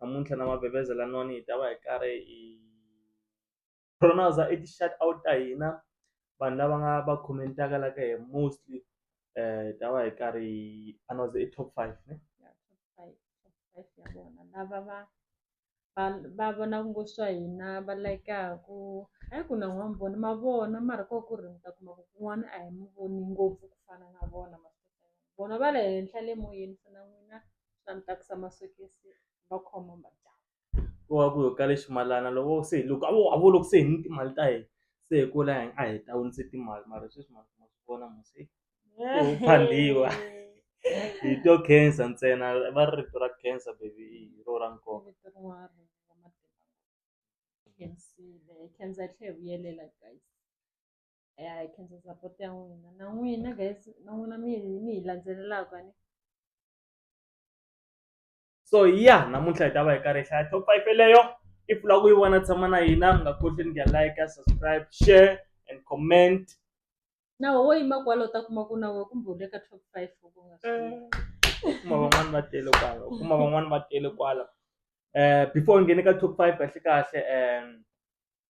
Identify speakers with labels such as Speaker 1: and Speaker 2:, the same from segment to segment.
Speaker 1: namuntlha na mavhevheza laniwani hi ta va hi karhi hi pronounce i ti-shout out ta hina vanhu lava nga va comment-aka la ka hi mostly hi ta va hi karhi hi announce i top five ne
Speaker 2: lava va va va vonaka ngo swa hina va layikaku hayi ku na n'wana vona ma vona mara ko ku ri mi ta kuma ku kun'wana a hi mi voni ngopfu ku fana na vona vona va le henhla le moyeni se na n'wina swa ni tsakisa masokisi va khoma madyambu ku va ku yo ka le
Speaker 1: ximalana loko se loko a vo a vo loko se hi ni timali ta hina se hi kula hi a hi ta wunise timali mara sweswi ma ma swi vona mu se Ku phandiwa. hi to cancer ntsena va ri rito ra cancer baby hi ro ra nkoka Vito rin'wana ri nga
Speaker 2: matimba. Khensile khensa yi tlhe yi vuyelela guys ya hi khensa support ya n'wina na n'wina guys na n'wina mi hi mi hi landzelelaka ni
Speaker 1: so ya namuntlha hi ta va hi karhi hi hlaya top five yeleyo if u lava ku yi vona tshama na hina mi nga koti ni nga like subscribe share and comment nawe
Speaker 2: wo yima kwalo ta kuma ku nawe kumbe u le ka top five u nga swi tivi. u kuma van'wani va tele
Speaker 1: kwala u kuma van'wani va tele kwala um before u nghene ka top five kahle kahle um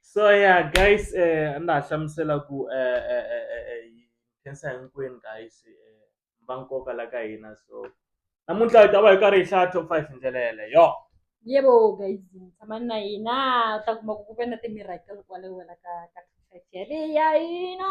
Speaker 2: so
Speaker 1: ya guys a ndza ha hlamusela ku khensa hinkwenu guys va nkoka la ka hina so namuntlha hi ta va hi karhi hi hlaya top five hi ndlela yeleyo yebo
Speaker 2: guys tshama na hina u ta kuma ku ku ve na timirakel kwale wena ka ka ya hina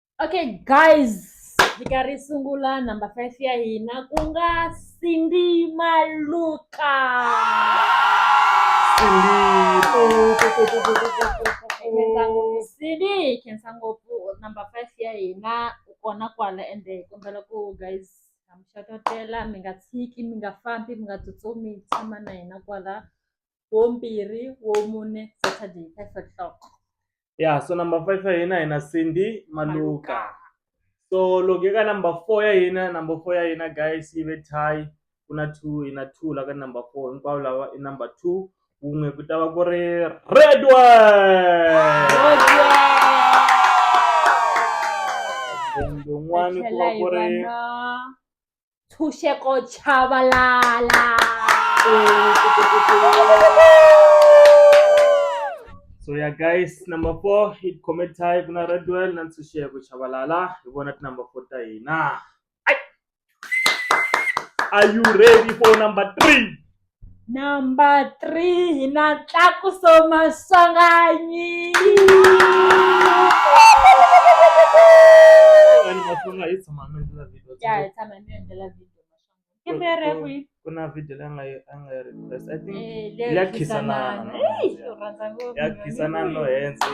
Speaker 2: okay guys hi karhi hi sungula number five ya hina ku nga cindy maluka khensa ngopfu cindy hi khensa ngopfu number five ya hina u kona kwala ende hi kombela ku guys ha mi xototela mi nga tshiki mi nga fambi mi nga tsutsumi tshama na hina kwala wo mbirhi wo mune saturday five o'clock ya so
Speaker 1: number five ya hina hina cindy maluka so loko eka number four ya hina number four ya hina guys yi ve tie ku na two yi na two la ka number four hinkwavo lava i number two wun'we ku ta va ku ri red one lowun'wani ku va ku ri ntshunxeko
Speaker 2: chavalala
Speaker 1: so ya yeah, guys number four hi comment hi ku na redwell na ntshunxeko chavalala hi vona tinumber four ta hina are you ready for number three Number
Speaker 2: three hi na Tlakuso Maswanganyi. Vanhu
Speaker 1: va tlanga hi tshama mi endlela video. Ya hi tshama mi endlela
Speaker 2: video Maswanganyi. Ke mi ri kwi? Ku na video leyi a nga
Speaker 1: yi a nga yi request. I think Eh, leyo ya khisanana.
Speaker 2: khisanana. Ey, u rhandza ngopfu.
Speaker 1: ya khisanana no hense.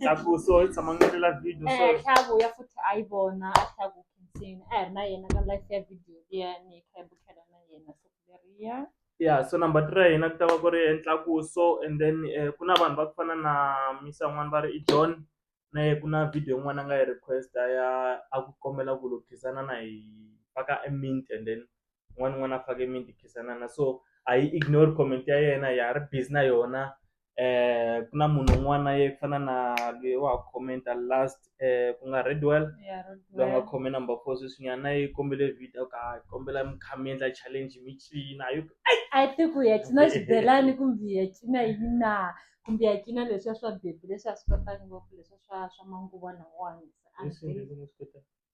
Speaker 1: Tlakuso hi tshama mi endlela video so. Eh, tlhaku ya futhi a
Speaker 2: yi vona a tlhaku khinsini a hi ri na yena ka life ya video liya ni kha hi bukela na yena so Berea. Yeah,
Speaker 1: so number three ya hina ku ta va ku ri entlakuso and then eh, ku na vanhu va ku fana na misa n'wana va ri i john na ye ku na video yin'wana a nga yi request a ya a ku kombela ku lo khisana na hi faka e mint and then un'wana un'wana a fake mint hi khisanana so a yi ignore comment ya yena ya ri busy na yona ku na munhu un'wana ye ku fana na lweyi wa ha comment-a last ku nga Redwell ya lwa nga Rodwell. khome number four sweswinyana na yi kombele video ka ha kombela mi kha mi endla challenge mi cina hi ku a yi tiku
Speaker 2: ya cina xibelani kumbe ya cina yini na kumbe ya cina leswiya swa bebi leswi a swi kotaka ngopfu leswiya swa swa manguva lawawani a swi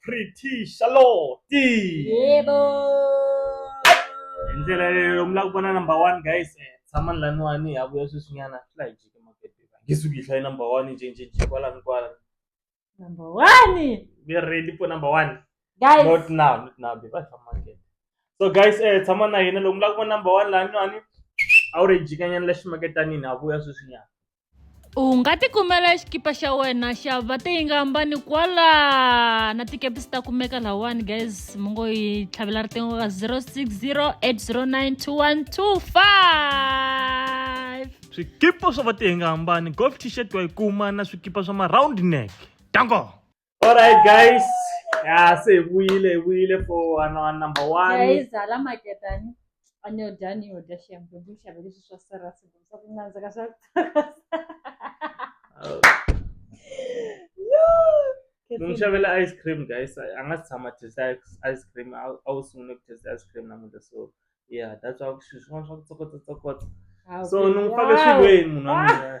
Speaker 1: pretty charlotte yebo hi ndlela leyo mi lava ku vona number one guys eh, tshamani laniwani ha vuya sweswinyana swi la hi jiki makete nge suki hi hlayi number one jinjinji kwala ni kwala number
Speaker 2: one we are ready for
Speaker 1: number one guys not now
Speaker 2: not now
Speaker 1: babe va famba makete so guys eh tshama na hina loko mi lava ku vona number one laniwani a wu ri hi jikanyana la ximaketanini ha vuya sweswinyana u nga
Speaker 2: tikumela xikipa xa wena xa va tiyingambani kwala na tikepisi ta kumeka lawani guys mi ngo yi tlhavela riqingho ka 060 809 2125 swikipa swa
Speaker 1: va tiyingambani golf t-shirt wa yi kuma na swikipa swa ma round neck dango Alright guys, ya se hi vuyile hi vuyile for wana wa number one. yayizala maketani
Speaker 2: aniyodani yodya shembe buxave leswi swa serasi swa ku nandzika swa
Speaker 1: N'wi xavela ice cream guys, a a nga si tshama taste ice- ice cream, a a wu sungule ku taste ice cream namuntlha so yeah that's why swilo swin'wana swa ku tsokotsa tsokotsa. So ni n'wi fake swilweni munhu wa mina.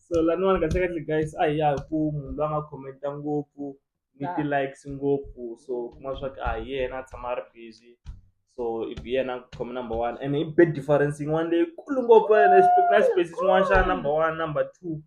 Speaker 2: so laniwani
Speaker 1: kahlekahle guys a hi ya hi ku munhu loyi a nga khomenta ngopfu ni Ah. ti-likes ngopfu so u kuma swa ku a hi yena a tshama a ri busy so i bi yena khome number one and i big difference yin'wana leyikulu ngopfu ene xi- na xipesi xin'wana xa number one number two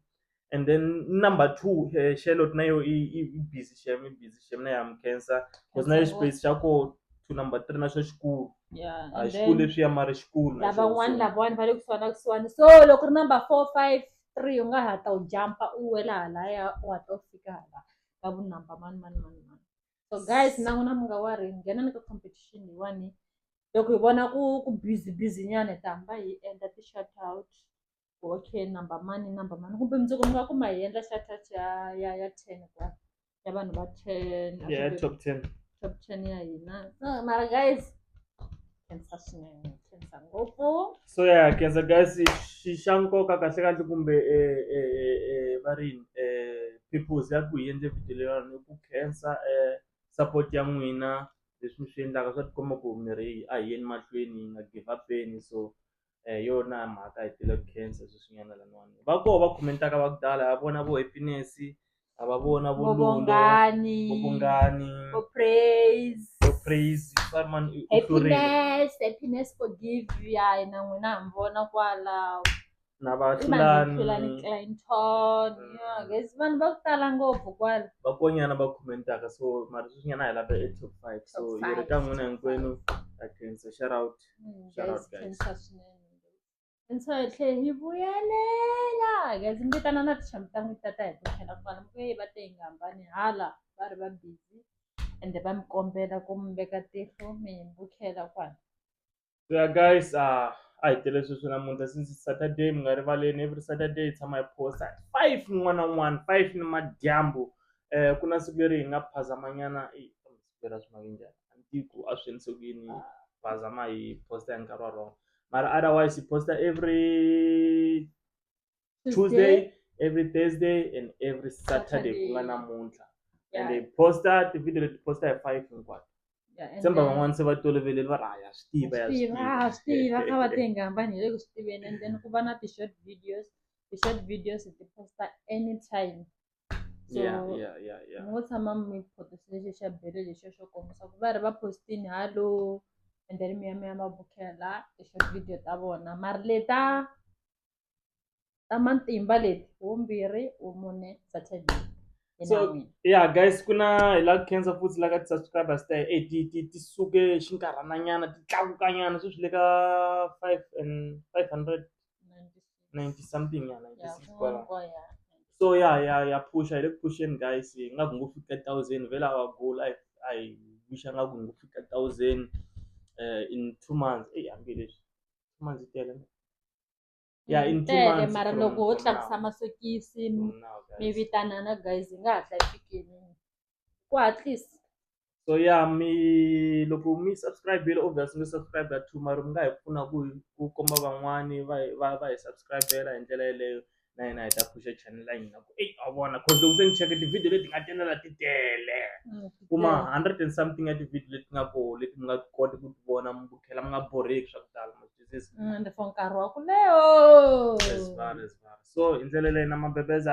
Speaker 1: and then number two eh, charlotte na yo i i i busy shem i busy shem na ya mi cancer because na le xipesi xa ko to number three na xo xikulu Yeah, a and xikulu
Speaker 2: then leswiya mara
Speaker 1: xikulu na lavan'wani xona. lavawani va le kusuhani
Speaker 2: na kusuhani so loko ri number four five three u nga ha ta u jampa u wela halaya u ha ta u fika hala ka vu number mani mani mani mani so guys na n'wina mi nga wari nghenani ka competition leyiwani loko hi vona ku ku busy busy nyana hi ta hamba hi endla ti-shout out okay number mani number mani kumbe mundzuku mi nga kuma hi endla xa touch ya ya ya ten kwa ya vanhu va ten a ya kumbe top ten
Speaker 1: top ten ya hina
Speaker 2: Ah, mara guys khensa swinene khensa ngopfu so ya kenza
Speaker 1: guys xi xa nkoka kahle kahle kumbe eh, eh, eh, eh, va ri yini, eh, purpose ya ku hi endle video leyiwani i ku khensa eh, support ya n'wina leswi mi swi endlaka swa tikomba ku mirhi a hi yeni mahlweni hi nga give upeni so hi yona mhaka hi tile ku khensa sweswinyana laniwani va koho va comment-aka va ku tala ha vona vo happiness ha va vona vo Lulu, vobongani vo vungani vo
Speaker 2: praise vo praise va ri mani u- u hlurile happiness happiness forgive ya hina n'wina ha mi vona kwala na va i vanhu vo
Speaker 1: hlulani hlulani clinton
Speaker 2: yeah, guys vanhu va ku tala ngopfu kwala vakonyana va
Speaker 1: comment-aka so mara sweswinyana hi lava e top five so Top hi ri five. ka n'wina hinkwenu ha khensa shout out Mm, Shout out, guys, guys.
Speaker 2: khensa swinene. Khensa hi tlhe hi vuyelela guys mi vitana na tichamu ta n'wi tata hi ku tlhela kwala mi kuye va te hi nga hambani hala va ri va busy ende va mi kombela ku mi veka tihlo mi hi mbukela kwala So yeah,
Speaker 1: guys, uh, a hi tele sweswi namuntlha since it's Saturday mi nga rivaleni every Saturday hi tshama hi posta at five n'wana n'wana five ni madyambu eh ku na siku leri hi nga phazamanyana eh, tirha swi maki njhani a ni tivi ku a swi endlise ku yini va zama hi posta hi nkarhi wa wrong mara otherwise hi posta every tuesday every thursday and every saturday ku nga namuntlha and hi posta ti-video leti posta hi five hinkwato semba van'wana se va toloveleli va ri haya swi tiva ya swi tiva ha swi tiva ka
Speaker 2: va tenga hambani hi le ku swi tiveni and then ku va na ti-short videos ti-short videos hi ti posta anytime so yeah, yeah, yeah, yeah. ngo tshama mi photose lexi xa bele lexi xo kombisa ku va ri va postini hallo and then mi ya mi ya va bukela lexo video ta vona mari leta ta matimba leti wumbirhi wu mune saturday so
Speaker 1: yeah guys ku na hi la cancer futhi la ka ti-subscribers ta e ti ti ti suke xinkarhananyana ti tlakukanyana sweswi le ka five and five hundred 90 something ya 96 kwala so ya ya ya phusha hi le ku phusheni guys hi nga ku ngo fika thousand vhela wa goal a hi wixa nga ku ngo fika thousand eh, in two months eyi hambi leswi two months yi tele ya in two tele months mara from- loko ho from tlakusa
Speaker 2: now. masokisi From now, guys. mi vitanana guys hi nga hatla hi fikini ku hatlisa so ya
Speaker 1: mi loko mi subscribe-ile obvious mi subscribe two mara mi nga hi pfuna ku hi ku komba van'wani va hi va va hi subscribe-ela hi ndlela yeleyo na hina hi ta pfuxa channel ya hina ku eyi a vona cause loko se ni cheke tivhidiyo leti nga tenela ti tele kuma hundred and something ya tivhidiyo leti nga koho leti mi nga koti ku ti vona mi vukhela mi nga borheki swa ku tala ma twisisa ende for
Speaker 2: nkarhi wa ku leyo Yes, vale,
Speaker 1: yes, vale. so hi ndlela leyi na mabebeza